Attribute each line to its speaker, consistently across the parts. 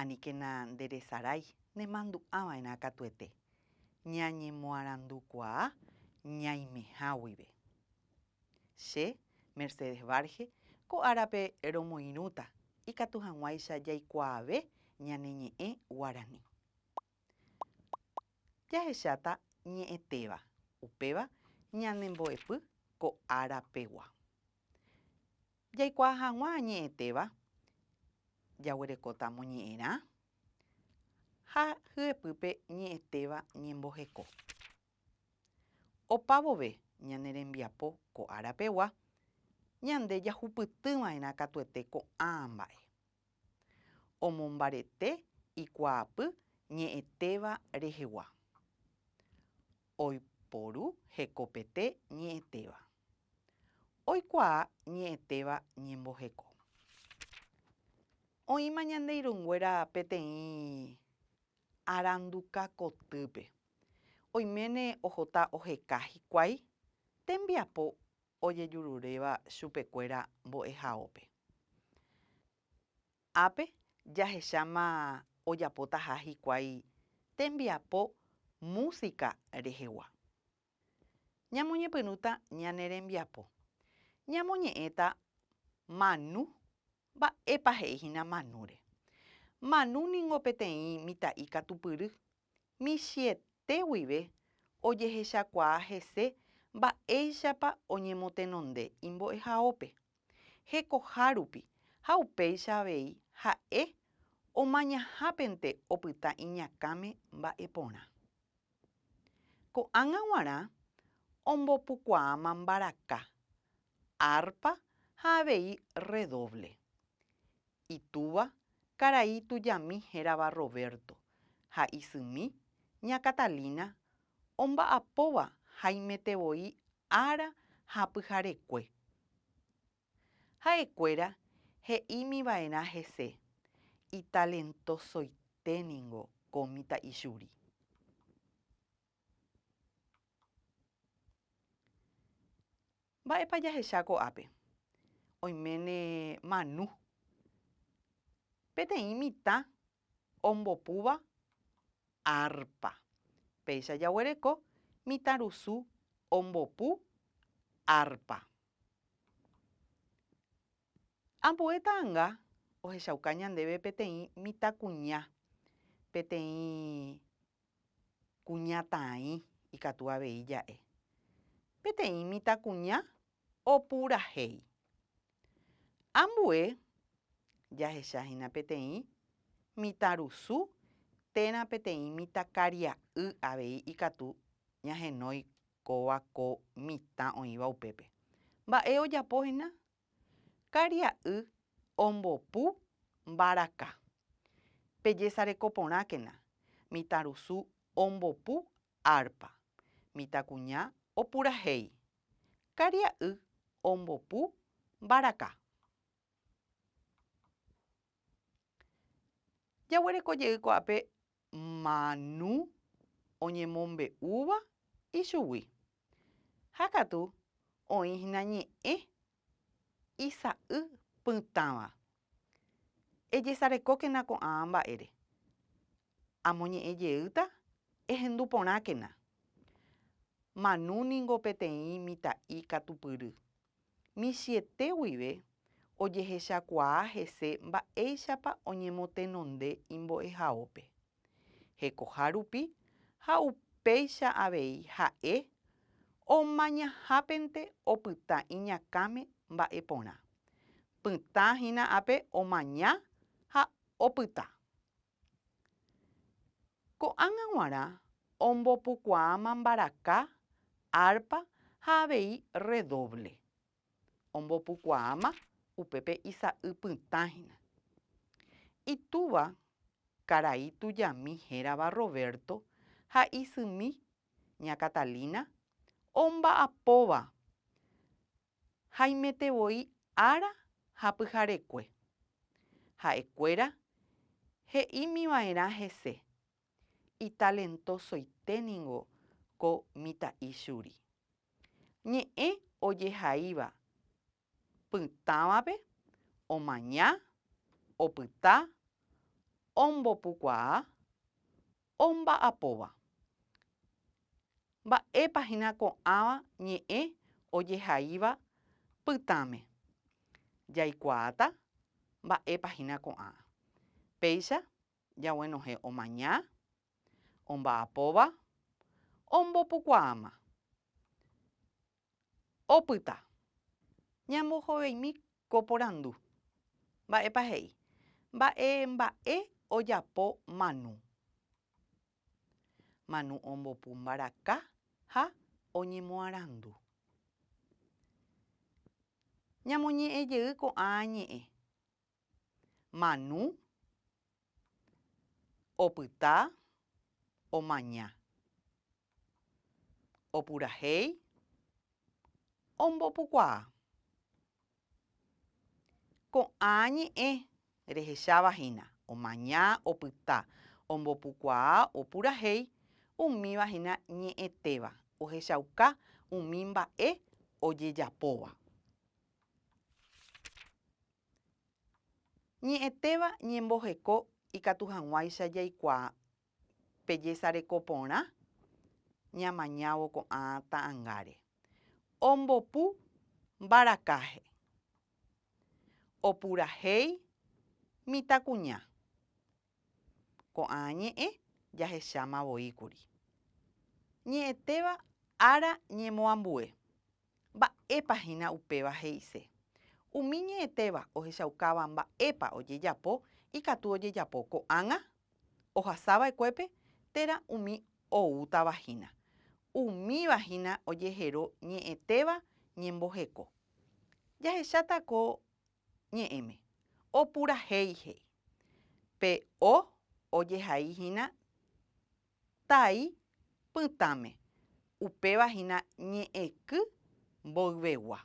Speaker 1: Aníkena nderesarái nemandu'ava'erã katuete, ñañemoarandukuaa ñaimeha guive. Che, Mercedes Varge, ko árape romoirũta ikatu hag̃uáicha jaikuaave ñane ñe'ẽ guarani. Jahecháta ñe'ẽtéva, upéva ñanembo'epy ko ára pegua. Jaikuaa hag̃ua añe'ẽtéva jaguerekóta moñe'ẽrã ha hyepýpe ñe'ẽtéva ñemboheko. Opa vove ñane rembiapo ko ára pegua, ñande jahupytyva'erã katuete ko'ã mba'e. omombarete ikuaapy ñe'ẽtéva rehegua. Oiporu hekopete ñe'ẽtéva. Oikuaa ñe'ẽtéva ñemboheko. Oĩma ñande irũnguéra peteĩ aranduka kotýpe. Oiméne ohota oheka hikuái tembiapo ojejururéva chupekuéra mbo'ehaópe. Ápe jahecháma ojapotaha hikuái tembiapo músika rehegua. Ñamoñepyrũta ñane rembiapo, ñamoñe'ẽta manu Mba'épa he'i hína Manúre? Manu ningo peteĩ mitã'i katupyry, michiete guive ojehechakuaa hese mba'éichapa oñemotenonde imbo'ehaópe. Hekoha rupi ha upéicha avei ha'e omañahapente opyta iñakãme mba'e porã. Ko'ág̃a g̃uarã ombopukuaáma mbaraka, árpa ha avei rredóvle. Itúva karai tujami hérava Roberto ha isymi ña Catalina omba'apóva haimetevoi ára ha pyharekue. Ha'ekuéra he'ímiva'erã hese, Italentosoite ningo ko mitã'i Yuri. Mba'épa jahecha ko'ápe? Oiméne Manu, peteĩ mitã ombopúva arpa. Péicha jaguereko mitãrusu ombopu arpa. Ambue ta'anga ohechauka ñandéve peteĩ mitãkuña, peteĩ Kuñataãi ikatu avei ja'e. Peteĩ mitãkuña opurahéi. Ambue jahecha hína peteĩ mitãrusu térã peteĩ mitãkaria'y avei ikatu ñahenói kóva ko mitã oĩva upépe. Mba'e ojapo hína? Karia'y ombopu mbaraka. Pejesareko porãkena, mitãrusu ombopu árpa. Mitãkuña opurahéi. Karia'y ombopu mbaraka. Jaguereko jey ko'ápe Manu oñemombe'úva ichugui. Ha katu oĩ hína ñe'ẽ isa'y pytãva. Ejesarekókena ko'ã mba'ére. Amoñe'ẽ jeýta ehendu porãkena. Manu ningo peteĩ mitã'i katupyry. Michĩete guive ojehechakuaa hese mba'éichapa oñemotenonde imbo'ehaópe. Hekoha rupi ha upéicha avei ha'e omañahapente opyta iñakãme mba'e porã. Pytã hína ápe omaña ha opyta. Ko'ág̃a g̃uarã ombopukuaáma mbaraka, árpa ha avei rredóvle. Ombopukuaáma upépe isa'y pytã hína. Itúva karai tujami hérava Roberto ha isymi ña Catalina omba'apóva Haimete voi ára ha pyharekue, ha'ekuéra he'ímiva'erã hese, Italentosoite ningo ko mitã'i churi. Ñe'ẽ ojehaíva pytãvape omaña, opyta, ombopukuaa, Omba'apóva. Mba'épa hína ko'ãva ñe'ẽ ojehaíva pytãme? Jaikuaáta mba'épa hína ko'ã. Péicha jaguenohẽ omaña, omba'apóva, ombopukuaáma. Opyta ñambohoveimi ko porandu. Mba'épa he'i? Mba'e mba'e ojapo Manu? Manu ombopu mbaraka ha oñemoarandu. Ñamoñe'ẽjey ko'ã ñe'ẽ. Manu, opyta, omaña. Opurahéi, ombopukuaa. Ko'ã ñe'ẽ rehecháva hína omaña, opyta, ombopukuaa, opurahéi umíva hína ñe'ẽtéva ohechauka umi mba'e ojejapóva. Ñe'ẽtéva ñemboheko ikatu hag̃uáicha jaikuaa pe jesareko porã ñamañávo ko'ã ta'angáre. Ombopu mbarakaje. Opurahéi mitãkuña. Ko'ã ñe'ẽ jahecháma voi kuri. Ñe'ẽtéva ára ñemoambue. Mba'épa hína upéva he'ise. Umi ñe'ẽtéva ohechaukáva mba'épa ojejapo ikatu ojejapo ko'ág̃a ohasava'ekuépe térã umi oútava hína. Umíva hína ojehero ñe'ẽtéva ñemboheko. Jahecháta ko Ñe'ẽme. Opurahéi he'i. Pe O ojehai hína tai pytãme, upéva hína ñe'ẽky mboyvegua.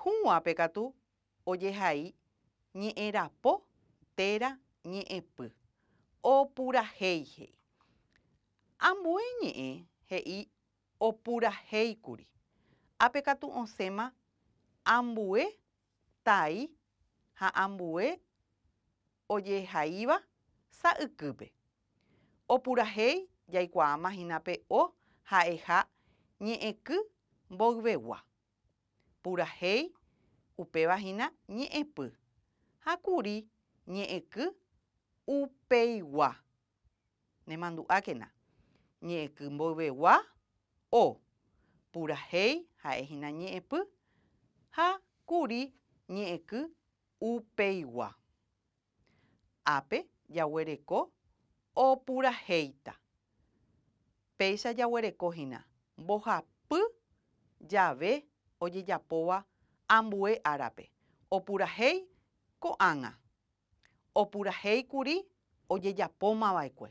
Speaker 1: Hũguápe katu ojehai ñe'ẽrapo téra ñe'ẽpy. Opurahéi he'i. Ambue ñe'ẽ he'i Opurahéikuri, Ápe katu osẽma ambue tai ha ambue ojehaíva sa ykýpe. Opurahéi jaikuaáma hína pe o ha'eha ñe'ẽky mboyvegua. Purahéi upéva hína ñe'ẽpy ha kuri ñe'ẽky upeigua. Nemandu'ákena, ñe'ẽky mboyvegua o, purahéi ha'e hína ñe'ẽpy, ha kuri ñe'ẽky upeigua. Ápe jaguereko o purahéita. Péicha jaguereko hína mbohapy jave ojejapóva ambue árape, opurahéi ko'ág̃a. opurahéi kuri ojejapóma va'ekue.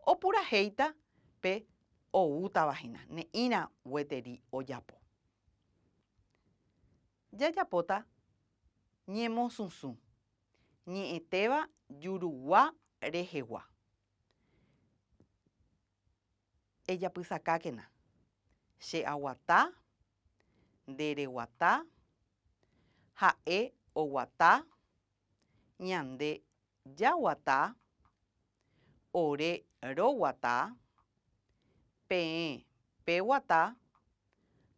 Speaker 1: Opurahéita pe oútava hína, ne'ĩra gueteri ojapo. Jajapóta ñemosũsũ, ñe'ẽtéva jurugua rehegua. Ejapysakákena, che aguata Nde reguata, ha'e oguata, ñande jaguata, ore roguata, peẽ peguata,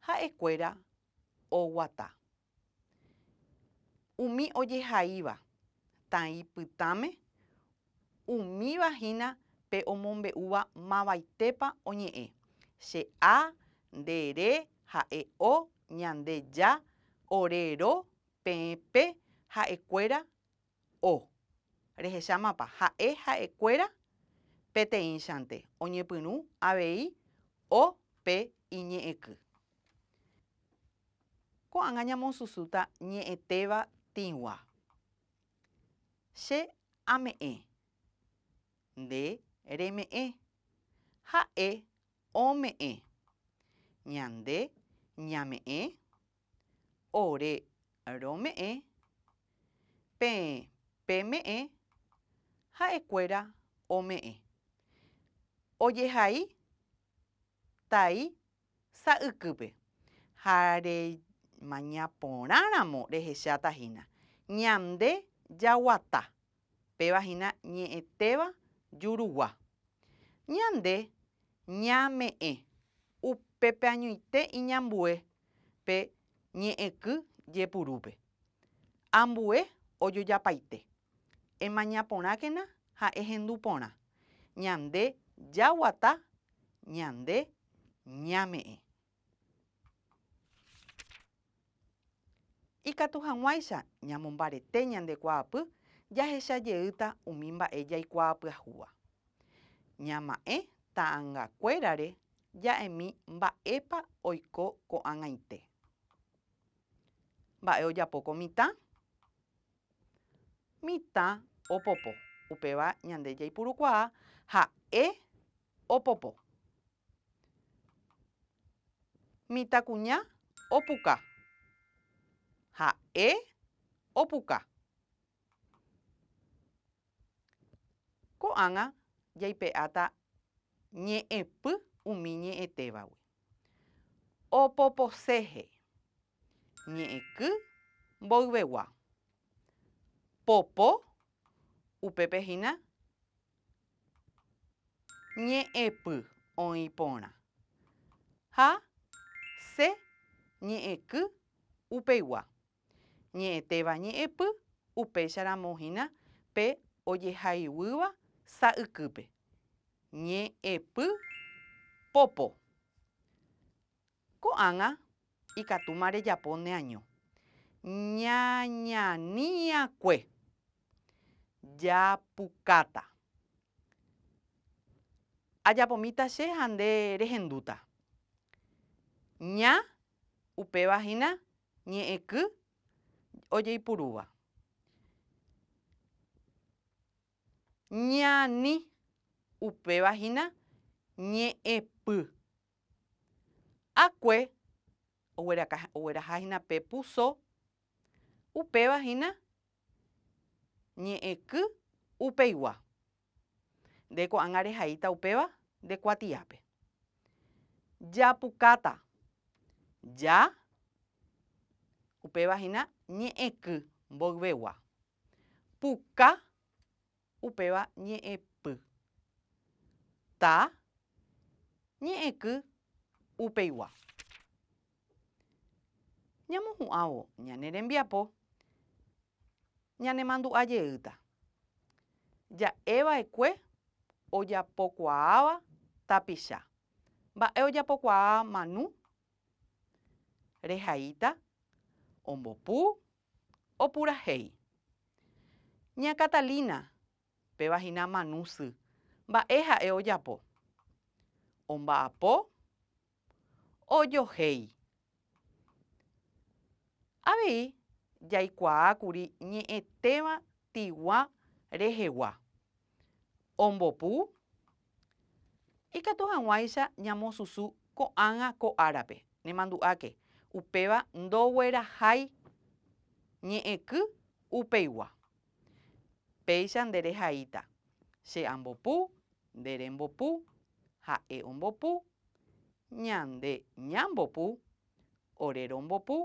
Speaker 1: ha'ekuéra oguata. Umi ojehaíva tãi pytãme umíva hína pe omombe'úva mavaitépa oñe'ẽ, Che a, nde re, ha'e o, ñande ja, ore ro, peẽ pe, ha'ekuéra, O. Rehechámapa ha'e ha'ekuéra peteĩchante oñepyrũ avei o pe iñe'ẽky. Ko'ág̃a ñamosusúta ñe'ẽtéva tĩgua. Che ame'ẽ. Nde reme'ẽ. Ha'e ome'ẽ. Ñande ñame'ẽ. Ore rome'ẽ peẽ peme'ẽ ha'ekuéra ome'ẽ. Ojehai tai sa'ykýpe ha remañaporãramo rehecháta hína, Ñande jaguata Péva hína ñe'ẽtéva jurugua. Ñande ñame'ẽ upepeañoite iñambue pe ñe'ẽky jepurúpe. Ambue ojojapaite. Emaña porãkena ha ehendu porã. Ñande jaguata, ñande ñame'ẽ. Ikatu hag̃uáicha ñamombarete ñande kuaapy jahecha jeýta umi mba'e jaikuaapyahúva. Ñama'ẽ ta'angakuérare ja'emi mba'épa oiko ko'ag̃aite. Mba'e ojapo ko mitã? Mitã opopo. Upéva ñande jaipurukuaa ha'e opopo. Mitãkuña opuka. Ha'e opuka. Ko'ág̃a jaipe'áta ñe'ẽpy umi ñe'ẽtévagui. Opoposehe. Ñe'ẽky mboyvegua. Popo, upépe hína ñe'ẽpy oĩ porã. Ha se ñe'ẽky upeigua. Ñe'ẽtéva ñe'ẽpy upéicharamo hína pe ojehaiguýva sa'ykýpe. Ñe'ẽpy popo. Ko'ág̃a ikatúma rejapo neaño. Ñañani'akue. Japukáta. Ajapomíta che ha nde rehendúta. Ña, upéva hína ñe'ẽky ojeipurúva. Ñani, upéva hína ñe'ẽpy. Akue ogueraha hína pe puso, upéva hína ñe'ẽky upeigua. Nde ko'ág̃a rehaíta upéva nde kuatiápe. Japukáta, ja, upéva hína ñe'ẽky mboyvegua. Puka, Upéva ñe'ẽpy. Ta. Ñe'ẽky upeigua. Ñamohu'ãvo ñane rembiapo, ñanemandu'a jeýta. Ja'eva'ekue ojapokuaáva tapicha. Mba'e ojapokuaa Manu? Rehaíta, ombopu, Opurahéi. Ña Catalina, péva hína Manu sy, mba'e ha'e ojapo? Omba'apo? Ojohéi. Avei jaikuaa kuri ñe'ẽtéva tigua rehegua. Ombopu, Ikatu hag̃uáicha ñamosusu ko'ág̃a ko árape, nemandu'áke, upéva ndoguerahái ñe'ẽky upeigua. Péicha nde rehaíta, che ambopu, nde rembopu, ha'e ombopu, ñande ñambopu, ore rombopu,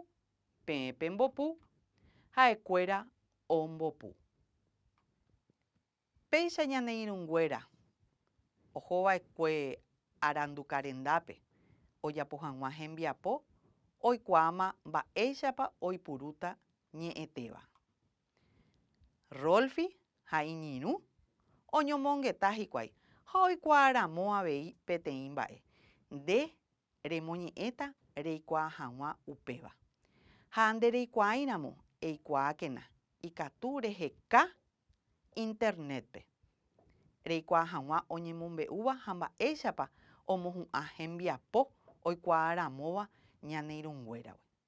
Speaker 1: peẽ pembopu, ha'ekuéra ombopu. Péicha ñane irũnguéra ohova'ekue arandu karendápe ojapo hag̃ua hembiapo oikuaáma mba'éichapa oipurúta ñe'ẽtéva. Rolfi ha iñirũ oñomongeta hikuái ha oikuaa ramo avei peteĩ mba'e. Nde remoñe'ẽta reikuaa hag̃ua upéva. Ha nde reikuaáiramo eikuaákena ikatu reheka Internet-pe, reikuaa hag̃ua oñemombe'úva ha mba'éichapa omohu'ã hembiapo oikuaa ramóva ñane irũnguéragui.